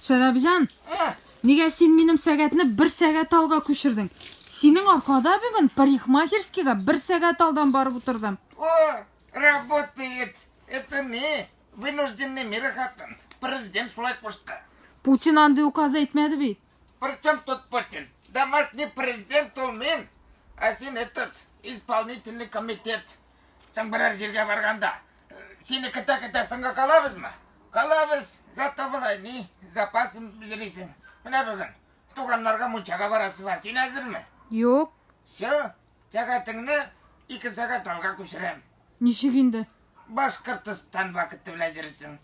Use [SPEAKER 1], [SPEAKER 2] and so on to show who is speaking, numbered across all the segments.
[SPEAKER 1] Шәрәбҗан, нигә син минем сәгатьне бер сәгать алга күчердең? Синең аркада бүген парикмахерскийга бер сәгать алдан барып утырдым. О,
[SPEAKER 2] работает. Это не Вынужденный мера хатын. Президент шулай кушты. Путин андый
[SPEAKER 1] указ әйтмәде бит. Причем тут
[SPEAKER 2] Путин? Домашний президент ул мин. Ә син этот исполнительный комитет. Соң берәр җиргә барганда сине көтә-көтә соңга калабызмы? Калабыз. Зато былай ни запас җирисең. Менә бүген туганнарга мунчага барасы бар. Син әзерме? Юк. Все. Сәгатеңне ике сәгать алга күчерәм. Ничек инде?
[SPEAKER 1] Башкортостан
[SPEAKER 2] вакыты белән йөрисең.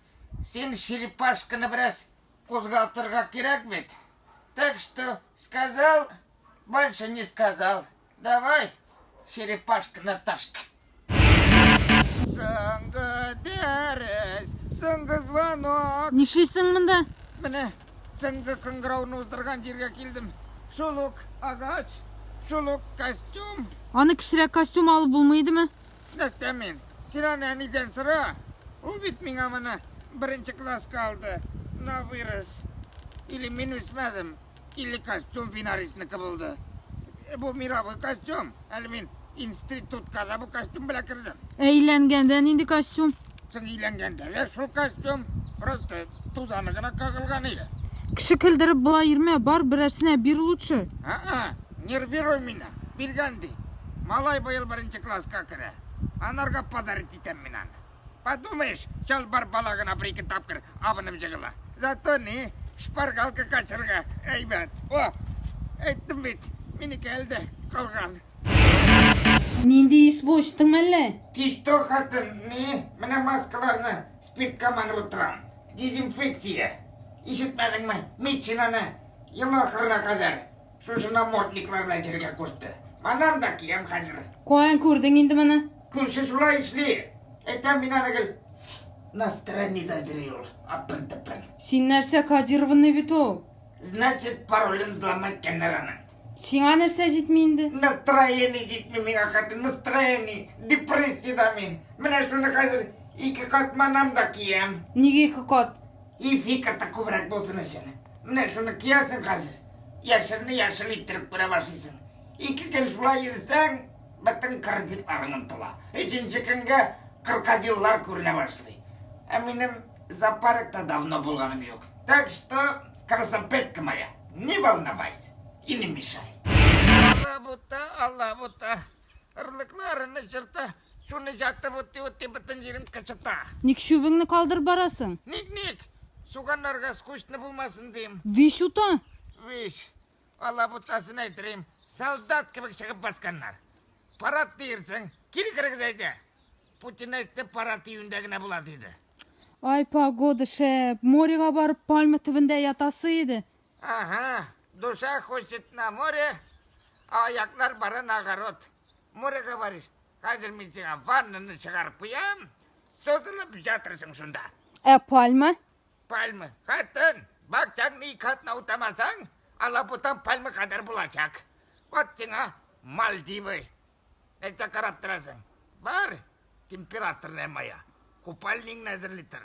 [SPEAKER 2] Син черепашканы бераз кузгалтырга кирәк бит. Так что сказал, больше не сказал. Давай, черепашка на ташка. Соңгы дәрес, соңгы звонок. Нишлисең монда?
[SPEAKER 1] Менә
[SPEAKER 2] Соңгы кыңгыравны уздырган җиргә килдем. Шул ук агач, шул ук костюм. Аны кечерәк
[SPEAKER 1] костюм алып булмый идеме? Нәрсә мин?
[SPEAKER 2] Син аны әнидән сора. Ул бит миңа моны беренче класска алды. На вырос. Или мин үсмәдем, или костюм финарисныкы булды. Бу мировой костюм. Әле мин Институтка да бу костюм белән кердем. Ә өйләнгәндә нинди
[SPEAKER 1] костюм? Соң өйләнгәндә
[SPEAKER 2] дә шул костюм, просто тузаны гына кагылган иде. Кеше көлдереп
[SPEAKER 1] була йөрмә, бар берәрсенә бир лучше. А-а, нервируй
[SPEAKER 2] меня. Биргән ди. Малай быел беренче класска керә. Анарга подарить итәм мин аны. Подумаешь, чалбар бала гына бер ике тапкыр абынып җыгыла. Зато ни, шпаргалка качырга әйбәт. О, әйттем бит, минеке әлдә калган.
[SPEAKER 1] Нинди ис бу, эчтеңме әллә? Тишто хатын,
[SPEAKER 2] ни, менә маскаларны спиртка манып утырам. Дезинфекция. Ишетмәдеңме, медчинаны ел ахырына кадәр Шушы намордниклар белән җиргә кушты. Маннан да киям хәзер. Каян күрдең инде
[SPEAKER 1] моны? Күрше шулай эшли.
[SPEAKER 2] Әйтәм мин аны гел настроениедә йөри ул. Апын-тыпын. Син нәрсә,
[SPEAKER 1] кодированный бит ул. Значит,
[SPEAKER 2] паролен взломать кәннәр аның. Сиңа нәрсә
[SPEAKER 1] җитми инде? Настроение
[SPEAKER 2] җитми миңа хәтер. Настроение. Депрессиядә мин. Менә шуны хәзер ике кат манам да киям. Нигә ике кат?
[SPEAKER 1] И фикер та
[SPEAKER 2] күбрәк булсын өчен. Менә шуны киясең хәзер. Яшелне яшел иттереп күрә башлыйсың. Ике көн шулай йөрсәң, бөтен кредитларың онтыла. Өченче көнгә крокодиллар күренә башлый. Ә минем зоопаркта давно булганым юк. Так что, красопетка моя, не волновайся и не мешай. Алабута, алабута. Ырлыклы арыны чырта, суны җатып утый-утый бөтен җирем кычыта. Ник чүбеңне
[SPEAKER 1] калдырып барасың? Ник, ник?
[SPEAKER 2] Суганнарга скучно булмасын дим. Вич ута?
[SPEAKER 1] Вич.
[SPEAKER 2] Алабутасын әйтерим, солдат кебек чыгып басканнар. Парад диерсең, кире керегез әйдә. Путин әйтте, парад июньдә генә була диде. Ай,
[SPEAKER 1] погода шәп. Морьга барып, пальма төбендә ятасы иде. Ага,
[SPEAKER 2] душа хочет на море, а аяклар бара на огород. Море говоришь, хәзер мин сиңа ваннаны чыгарып куям, созылып жатырсың шунда. Ә пальма?
[SPEAKER 1] Пальма,
[SPEAKER 2] хатын, бакчаңны ике атна утамасаң, алабутан пальма кадәр булачак. Вот сиңа Мальдивы. Нәрсә карап торасың? Бар, температурная моя. Купальник әзерли тор.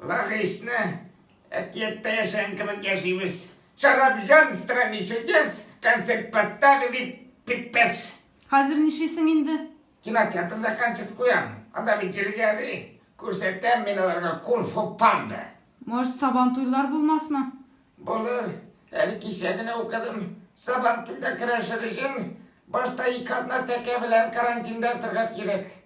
[SPEAKER 2] Ла хисне әкияттә яшәгән кебек яшибез. Шарап җан в стране чудес, концерт поставили, пипец. Хәзер нишлисең
[SPEAKER 1] инде? Кинотеатрда
[SPEAKER 2] концерт куям. Анда бит җиргәли. Күрсәтәм мин аларга кунг-фу панда. Может, сабан
[SPEAKER 1] туйлар булмасмы? Булыр.
[SPEAKER 2] Әле кичә генә укыдым. Сабан туйда көрәшер өчен башта ике атна тәкә белән карантинда торырга кирәк.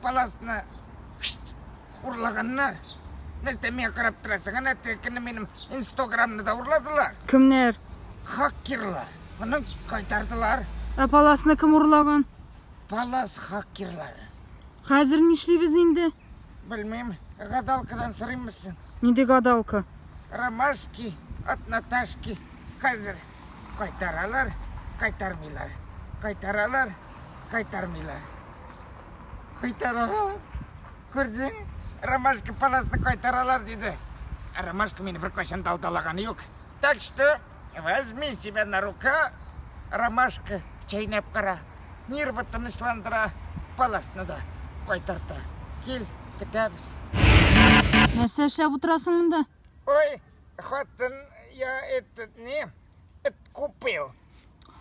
[SPEAKER 2] Паласны урлаганнар. Нәрсә миңа карап торасың? Әнә текене минем инстаграмны да урладылар. Кемнәр?
[SPEAKER 1] Хакерлар.
[SPEAKER 2] Моны кайтардылар. Ә паласны кем
[SPEAKER 1] урлаган? Палас
[SPEAKER 2] хакерлары. Хәзер
[SPEAKER 1] нишлибез инде? Белмим.
[SPEAKER 2] Гадалкадан сорыйммысың? Нинди гадалка?
[SPEAKER 1] Ромашки
[SPEAKER 2] от Наташки. Хәзер. Кайтаралар, кайтармыйлар. Кайтаралар, кайтармыйлар. Кайтаралар. Күрдең, Ромашка паласны кайтаралар диде. Ә Ромашка мине бер кайчан да алдалаганы юк. Так что, возьми себя на рука, Ромашка, чәйнәп кара. Нервы тынычландыра, паласны да кайтарта. Кил, көтәбез.
[SPEAKER 1] Нәрсә эшләп утырасың монда? Ой,
[SPEAKER 2] хатын я этот не, эт купил.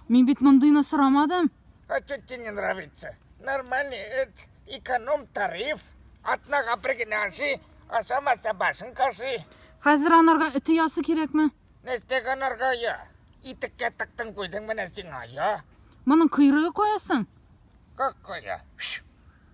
[SPEAKER 2] Мин бит
[SPEAKER 1] мондыйны сорамадым. А что тебе не
[SPEAKER 2] нравится? Нормальный эт, эконом тариф, атнага бер генә аши, ашамаса башын каши. Хәзер анарга
[SPEAKER 1] эте ясы кирәкме? Нәрсәгә анарга
[SPEAKER 2] я? Итеккә тыктың куйдың менә сиңа я. Моның койрыгы
[SPEAKER 1] каясың? Как коя?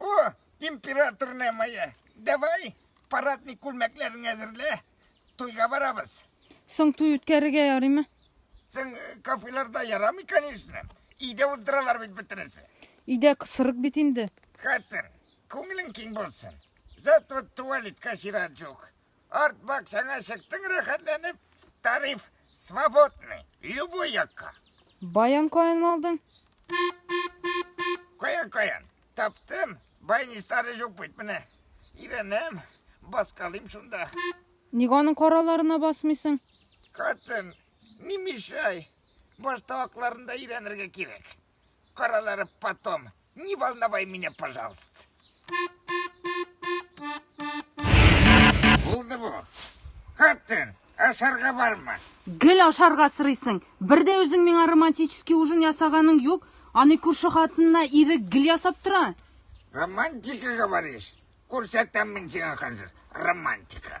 [SPEAKER 1] О,
[SPEAKER 2] императорная моя, давай парадный күлмәкләрен әзерлә, туйга барабыз. Соң туй
[SPEAKER 1] үткәрергә ярыймы? Соң э,
[SPEAKER 2] кафеларда ярамый, конечно. Өйдә уздыралар бит бөтенесе. Өйдә кысырык
[SPEAKER 1] бит инде. Хатын,
[SPEAKER 2] күңелең киң булсын. Зато туалетка чират юк. Арт бакчаңа чыктың рәхәтләнеп, тариф свободный, любой якка. Баян каян
[SPEAKER 1] алдың?
[SPEAKER 2] Каян каян? Таптым, байни старый жук бит менә. Иренем, баскалыйм шунда. Ник аның
[SPEAKER 1] караларына басмыйсың? Катын,
[SPEAKER 2] не мешай. Башта акларында өйрәнергә кирәк. Каралары потом. Не волновай меня, пожалуйста. Булды бу. Хатын, ашарга барма. Гел ашарга
[SPEAKER 1] сырыйсың. Бер дә үзең миңа романтический ужин ясаганың юк. Аны күрше хатынына ире гел ясап тора. Романтика
[SPEAKER 2] говоришь? Күрсәтәм мин сиңа хәзер романтика.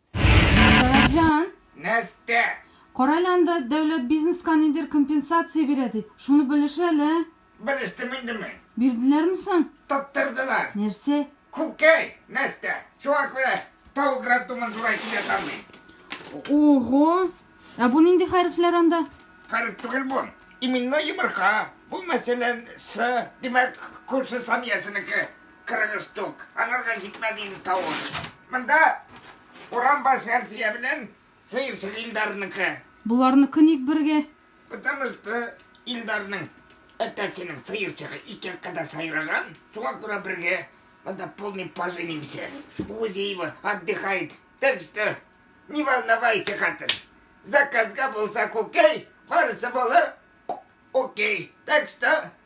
[SPEAKER 1] Сәләтҗан! Нәстә!
[SPEAKER 2] Карале анда,
[SPEAKER 1] дәүләт бизнеска нидер компенсация бирә ди. Шуны белеш әле. Белештем инде
[SPEAKER 2] мин. Бирделәрме соң?
[SPEAKER 1] Тоттырдылар.
[SPEAKER 2] Нәрсә?
[SPEAKER 1] Күкәй,
[SPEAKER 2] Нәстә. Шуңа күрә тавык роддомын зурайтып ятам мин. Ого!
[SPEAKER 1] Ә бу нинди хәрефләр анда? Хәреф түгел бу.
[SPEAKER 2] Именной йомырка. Бу мәсәлән, С, димәк, күрше Саниясенеке. Кырыгыз тук, анарга җитмә, диде тавыш. Монда Урамбаш Әлфия белән сыерчык Илдарныкы. Боларныкы ник
[SPEAKER 1] бергә? Потому что
[SPEAKER 2] Илдарның әтәченең сыерчыгы ике яккада сайраган, шуңа күрә бергә. Монда полный поженимся. Үзе его отдыхает. Так что не волновайся, хатын. Заказга булса күкәй, барысы булыр. Окей. Так что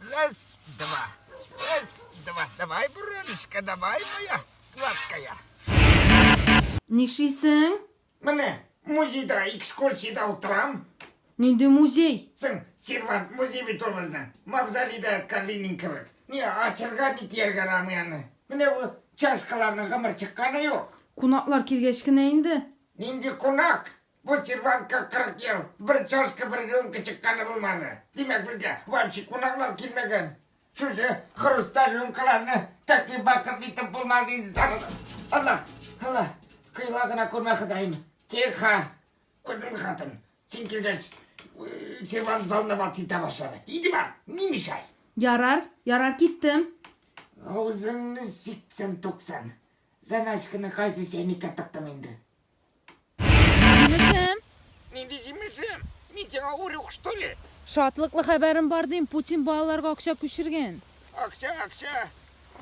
[SPEAKER 2] Раз, два. Раз, два. Давай, Буроночка, давай, моя сладкая.
[SPEAKER 1] Нишисең? Менә
[SPEAKER 2] музейда экскурсияда утырам. Нинди
[SPEAKER 1] музей? Сен сервант
[SPEAKER 2] музей бит ул безнең. Мавзолейда Калинин кебек. Ни ачырга, ни тияргә рамый аны. Менә бу чашкаларның гомер чыкканы юк. Кунаклар килгәч
[SPEAKER 1] кенә инде. Нинди кунак?
[SPEAKER 2] Бу сервантка 40 ел бер чашка, бер рюмка чыкканы булмады. Димәк, безгә вообще кунаклар килмәгән. Шушы хрусталь рюмкаларны такие бакыт итеп булмады инде сарылып. Алла, Алла, кыйла гына күрмә Ходаем. Тихо, күрдеңме хатын? Син килгәч, сервант волноваться итә башлады. Иди бар, не мешай. Ярар, ярар
[SPEAKER 1] киттем. Авызыңны
[SPEAKER 2] сиксән-туксан. Заначканы кайсы чәйнеккә тыктым инде? Җимешем.
[SPEAKER 1] Нинди җимешем?
[SPEAKER 2] Мин сиңа урюк, что ли? Шатлыклы хәбәрем
[SPEAKER 1] бар дим, Путин балаларга акча күчерген. Акча, акча.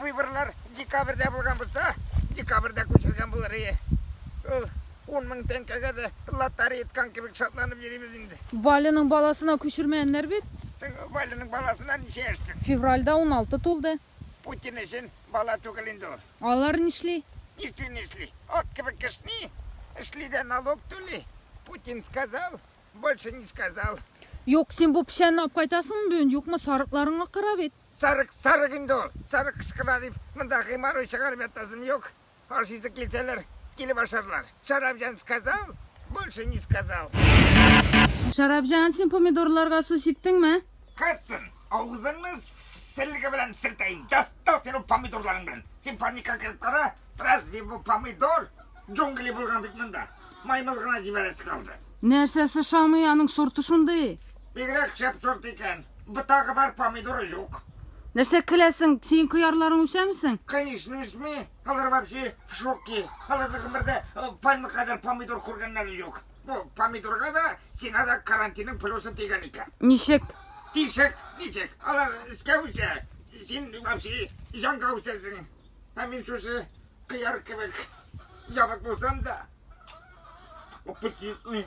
[SPEAKER 2] Выборлар декабрьдә булган булса, декабрьдә күчергән булыр ие. Ул 10 мең тәңкәгә дә лотерея иткан кебек шатланып йөрибез инде. Валяның баласына
[SPEAKER 1] күчермәннәр бит. Син Валяның
[SPEAKER 2] баласына ничә яшьсең? Февральдә 16
[SPEAKER 1] тулды. Путин өчен
[SPEAKER 2] бала түгел инде ул. Алар нишли?
[SPEAKER 1] Нишли, нишли.
[SPEAKER 2] Ат кебек кешни. Эшли дә налог түли. Путин сказал, больше не сказал. Юк, син бу
[SPEAKER 1] печәнне алып кайтасыңмы бүген, юкмы, сарыкларың акыра бит. Сарык, сарык инде ул.
[SPEAKER 2] Сарык кычкыра дип, монда геморрой чыгарып ятасым юк. Ашыйсы килсәләр, килеп ашарлар. Шарабҗан сказал, больше не сказал.
[SPEAKER 1] Шарабҗан, син помидорларга су сиптеңме? Кайттын.
[SPEAKER 2] Авызыңны селге белән селтәйм. Дастал син ул помидорларың белән. Син паника кереп кара. Разве бу помидор? Джунгли булган бит монда. Маймыл гына җибәрәсе калды. Нәрсәсе шамый
[SPEAKER 1] аның сорты шундый? Бигрәк шәп
[SPEAKER 2] сорт икән. Бытагы бар, помидоры юк. Нәрсә көләсең?
[SPEAKER 1] Син кыярларың үсәмесең? Конечно, үсми.
[SPEAKER 2] Алар вообще в шоке. Аларны гомердә э, пальма кадәр помидор күргәннәре юк. Бу помидорга да сиңа да карантинның плюсы тигән икән. Ничек?
[SPEAKER 1] Тишек,
[SPEAKER 2] ничек? Алар искә үсә. Син вообще җанга үсәсең. Ә мин шушы кыяр кебек ябык булсам да. Аппетитный.